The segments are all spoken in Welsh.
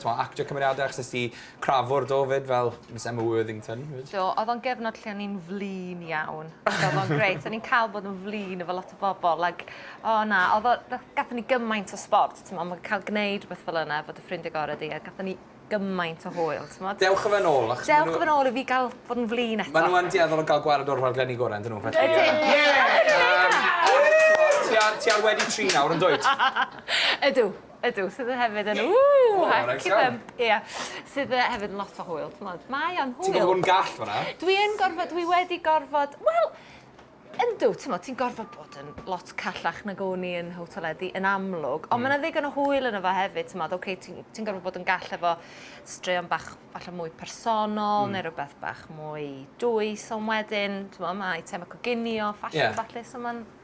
t'mo' actio cymeriade achos nes di crafwr do 'fyd fel Miss Emma Worthington 'fyd. Do odd o'n gyfnod lle o'n i'n flin iawn so odd o'n grêt o'n i'n ca'l bod yn flin efo lot o bobol ag o na odd o na- gathon ni gymaint o sbort t'mo' ma' ca'l gneud rwbeth fel yna efo dy ffrindie gore di a gathon ni gymaint o hwyl t'mod? Dewch a fe nôl achos ma' n'w... Dewch a fe nôl i fi ga'l bod yn flin eto. Ma' n'w yn dueddol o ga'l gwared o'r rhaglenni gore yndyn n'w felly yy... Ydyn. Ie! Ie! Yym ond t'mo' ti ar ti ar wedi tri nawr yndwyt? Ydw. Ydw, sydd yn hefyd yn... Ww! O, neis Heck it iawn. up! Ie. Sydd yy hefyd yn lot o hwyl, t'mod. Mae o'n hwyl. Ti'n gorfod bod yn gall fan'na. Dwi yn gorfod, dwi wedi gorfod, wel, yndw, t'mod, ti'n gorfod bod yn lot callach nag o'n i yn Hotel Eddi, yn amlwg. Ond ma' 'na ddigon o hwyl yno fo hefyd, t'mod, oce, ti'n ti'n gorfod bod yn gall efo straeon bach falle mwy personol neu rwbeth bach mwy dwys, ond wedyn, t'mo', ma' eiteme coginio, ffasiwn a ballu, so ma'n...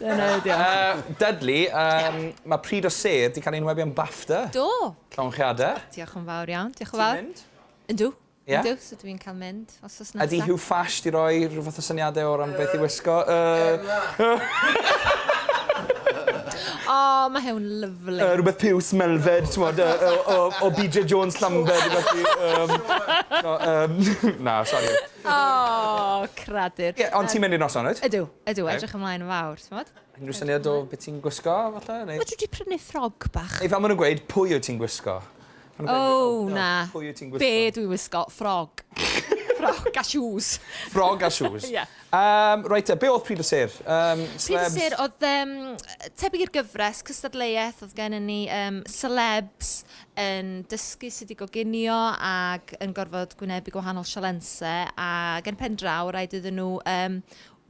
Dyna ydi o. Yy, Dudley, yym, ma' Pryd o Sêr 'di cael ei enwebu am BAFTA. Do! Llongyfarchiade. O, diolch yn fawr iawn, diolch yn fawr. Ti'n mynd? Yndw. Ie? Yndw, so dwi'n cael mynd wsos nesa. Ydi Huw Fash 'di roi rhyw fath o syniade o ran beth i wisgo? Yy. O, ma' Huw'n lyfli. Yy, rwbeth piws, melfed, t'mod, yy yy o o Bee Jay Jones Llambed neu rwbeth i yym, o yym, na, sori. O, cradur. Ie, ond ti'n mynd i'r noson, wyt? Ydw. Ydw, okay. edrych ymlaen yn fawr, ti'n bod? Unrhyw syniad o beth ti'n gwisgo, falle? Neu... Mae dwi wedi prynu ffrog bach. Ei, fan maen nhw'n gweud, pwy wyt ti'n gwisgo? O, oh, na. Pwy wyt ti'n gwisgo? Be dwi'n gwisgo? Ffrog. ffrog a shoes. Ffrog a shoes. yeah. Um, right, be oedd Pryd y Sir? Um, Pryd y Sir oedd um, tebyg i'r gyfres, cystadleuaeth oedd gen i ni um, celebs yn dysgu sydd wedi goginio ac yn gorfod gwynebu gwahanol sialense a gen pen draw rhaid iddyn nhw um,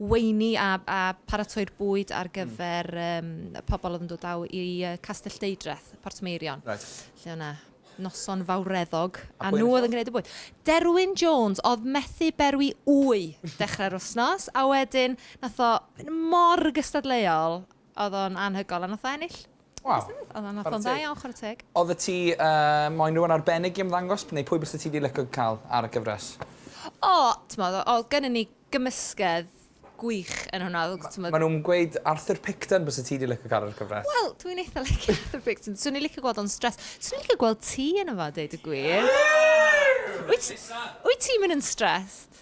weini a a pharatoi'r bwyd ar gyfer yym y pobl oedd yn dod draw i yy Castell Deudraeth, Portmeirion. Reit. Lle oedd 'na noson fawreddog a nhw oedd yn gwneud y bwyd. Derwyn Jones oedd methu berwi ŵy dechrau'r wythnos a wedyn wnaeth o fynd mor gystadleuol Oedd o'n anhygoel a nath o ennill. Waw. Beth yw? Oedd o'n nath o'n dda iawn chwarae teg. Odde ti yy moyn rhywun arbennig i ymddangos neu pwy byse ti 'di lico ca'l ar y gyfres? O! T'mod o- odd gynnon ni gymysgedd gwych yn hwnna odd o t'mod... Ma' nw'n gweud Arthur Picton byse ti 'di lico ca'l ar y cyfres. Wel dwi'n eitha licio Arthur Picton. Swn i licio gweld o'n stressed. Swn i licio gweld ti yno fo deud y gwir. Wyt wyt ti myn' yn stressed?